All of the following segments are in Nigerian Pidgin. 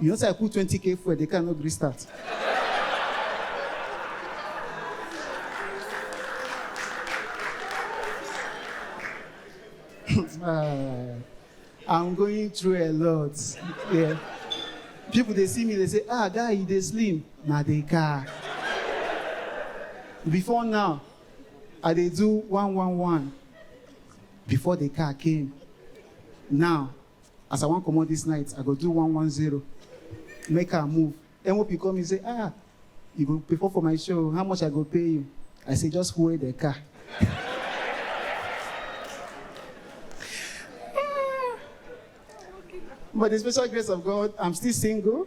You know, say I put 20k fuel, the car no gree start. Ah, I'm going through a lot. Yeah. People they see me, they say, ah, guy, you dey slim. Na the car. Before now, I dey do one one one. Before the car came. Now, As I wan comot this night, I go do one one zero, make am move. Enwopi call me say, ah, you go perform for my show, how much I go pay you? I say, just hold the car. By the special grace of God, I'm still single.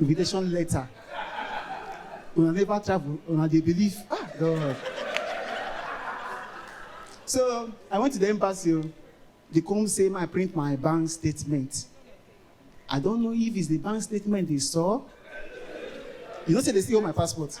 invitation letter una never travel una dey believe ah god so i went to the embassy o they come say make i print my bank statement i don't know if it's the bank statement they saw you know say they still hold my passport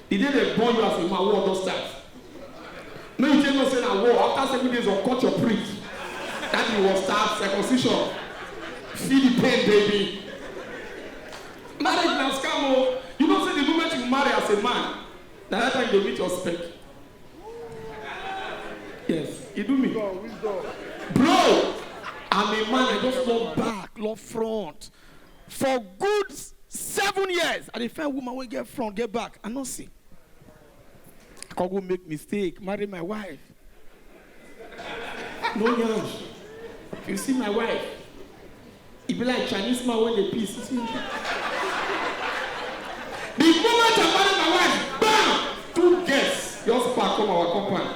E dey dey burn you as a man war don start make you take know say na war after seven days of cut your prick that thing war start circumcision feel the pain baby marriage na scam o you know say the moment you marry as a man na that time you dey meet your spec yes e do me bro I'm a man I just love back love front For good seven years, I dey find woman wey get front, get back, I no see. I come go make mistake, marry my wife. No yansh. If you see my wife, e be like Chinese man wey dey piss. The moment I marry my wife, bam! Two girls just pack come our compound.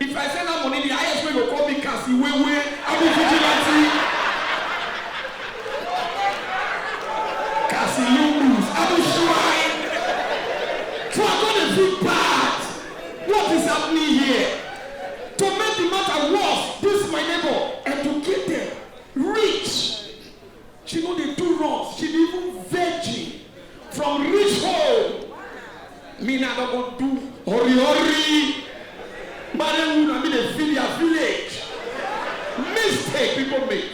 If I say na money the highest wey go call me Cassie wey wey I be vigilante Cassie Lumbus I be shrine so I come dey feel bad what is happening here to make the matter worse this my neighbor educated rich She no dey do runs, she be even virgin from rich home. Me na don go do hori hori. Mare wu na me dey feel their village. Mistake people make.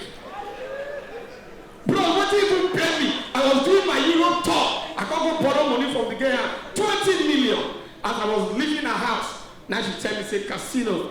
Bro, wetin even pay me? I was doing my Europe tour. I come go borrow money from the girl, twenty million. As I was leaving her house, na she tell me say casino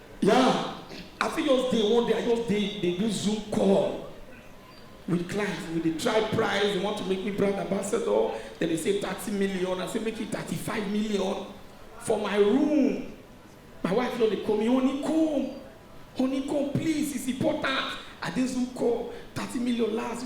Yeah, I fit just dey one day, I just dey dey do Zoom call with clients. We dey try price, they want to make me brand ambassador. Then they say thirty million, I say make it thirty-five million for my room. My wife just dey call me, honey come, honey come please, it's important. I dey Zoom call, thirty million last,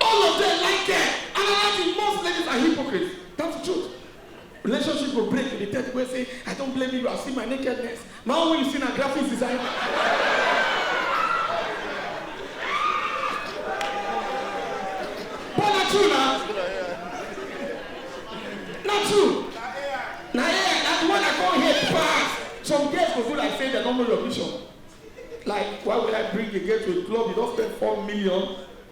All of them like girl. Another thing, most ladies are hypocrites. That's the truth. Relationship go break, you dey tell people say, I don't blame you, I see my nakedness. My own when you see na graphics design. But na true na. Na true. Na here, na the one I come here pass. Some girls go do like say dem no know your vision. Like, why would I bring a girl to a club? You don't spend four million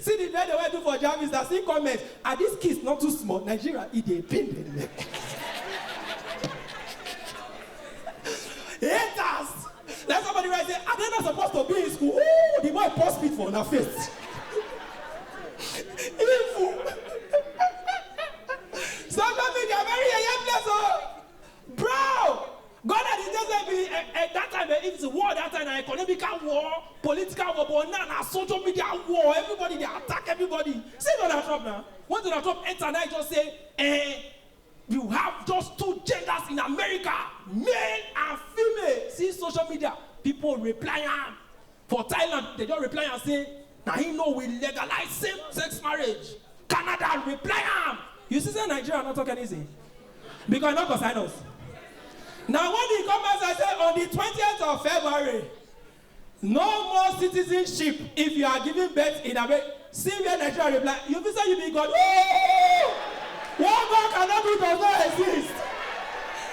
See the lele wey I do for Jarvis as he comment are these kids not too small Nigeria e dey pain dem haters like somebody write say are they not supposed to be in school ooh the boy pour spit for una face evil social media very yeye place oh bro. Gonna di days wey be eh dat time eh if it's war dat time na economical war, political war but now na social media war everybody dey attack everybody see Donald Trump na when Donald Trump enter na him just say eh you have just two genders in America male and female see social media people reply am for Thailand dem just reply am say Na him no we legalize same sex marriage, Canada reply am. You see say Nigeria no talk anything because e no concern us. Na when he come outside say on the twentieth of February no more citizenship if you are giving birth in America see where Nigeria reply you be say you be God ooh what God cannot do does not exist.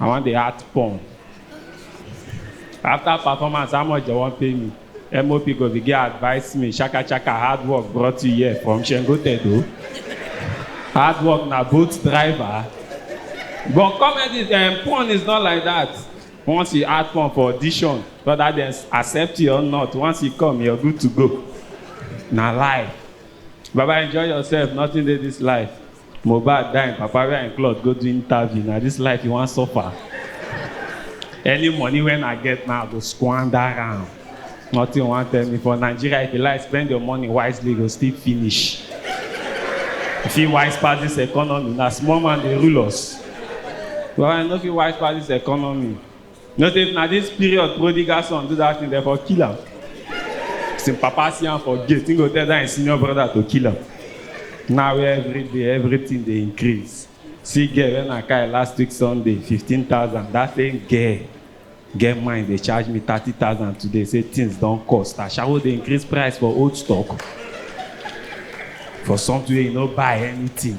I wan dey act porn. After performance, how much dem wan pay me? MOP go begin advise me, shaka shaka, hard work brought you here from Shengo Tedo. Hard work na boat driver. But comedy, um, porn is not like that. Once you act porn for audition, whether dem accept you or not, once you come, you're good to go. Na life. Baba, enjoy yourself, nothing dey this life. Mohbad die im papa wear im cloth go do interview na this life you wan suffer any money when I get now I go squander am nothing you wan tell me for Nigeria if you like spend your money wisely you go still finish you fit wise pass this economy na small man dey rule us but I no fit wise pass this economy. No say if na this period prodigal son do that thing, dem for kill am. As him papa see am for gate, he go tell that him senior brother to kill am. Now where every day everything dey increase. See girl when I carry last week Sunday, fifteen thousand. That same girl get mind dey charge me thirty thousand today say things don cost. Ashawo dey increase price for old stock for something wey you no buy anything.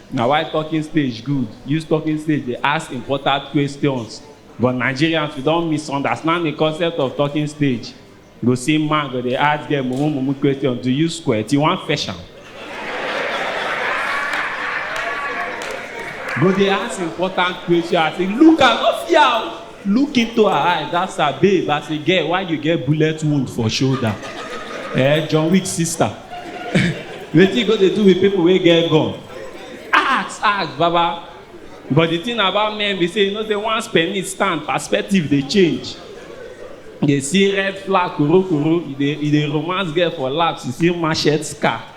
Na why talking stage good, use talking stage dey ask important questions but Nigerians we don misunderstand the concept of talking stage, you go see man go dey ask girl mumu mumu question, do you squirt, you wan fetch am? go dey ask important question as in look am no fear o. Look into her eyes ask her babe as a girl why you get bullet wound for shoulder eh John Wick sister wetin you go dey do with people wey get gun ask ask baba but the thing about men be say you know say once penis stand perspective dey change you dey see red flag korokoro you dey you dey romance girl for laps you see machete scar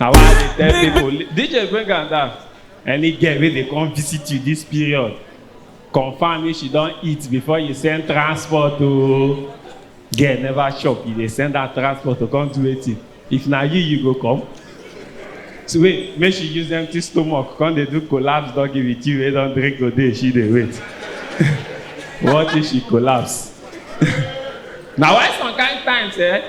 Na why I dey tell Big- people, li- DJ bring am down. Any girl wey dey come visit you this period, confirm if she don eat before you send transport o. Girl never chop, you dey send her transport to come do wetin? If na you, you go come. So wait, make she use empty stomach, come dey do collapse doggy with you wey don drink today, she dey wait. What if she collapse? Na why some kind times eh,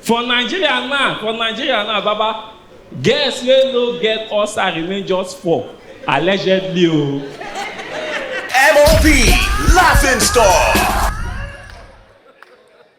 For Nigeria now, for Nigeria now baba, girls wey no get ulcer remain just four, allegedly o. MOB Laughing Stock.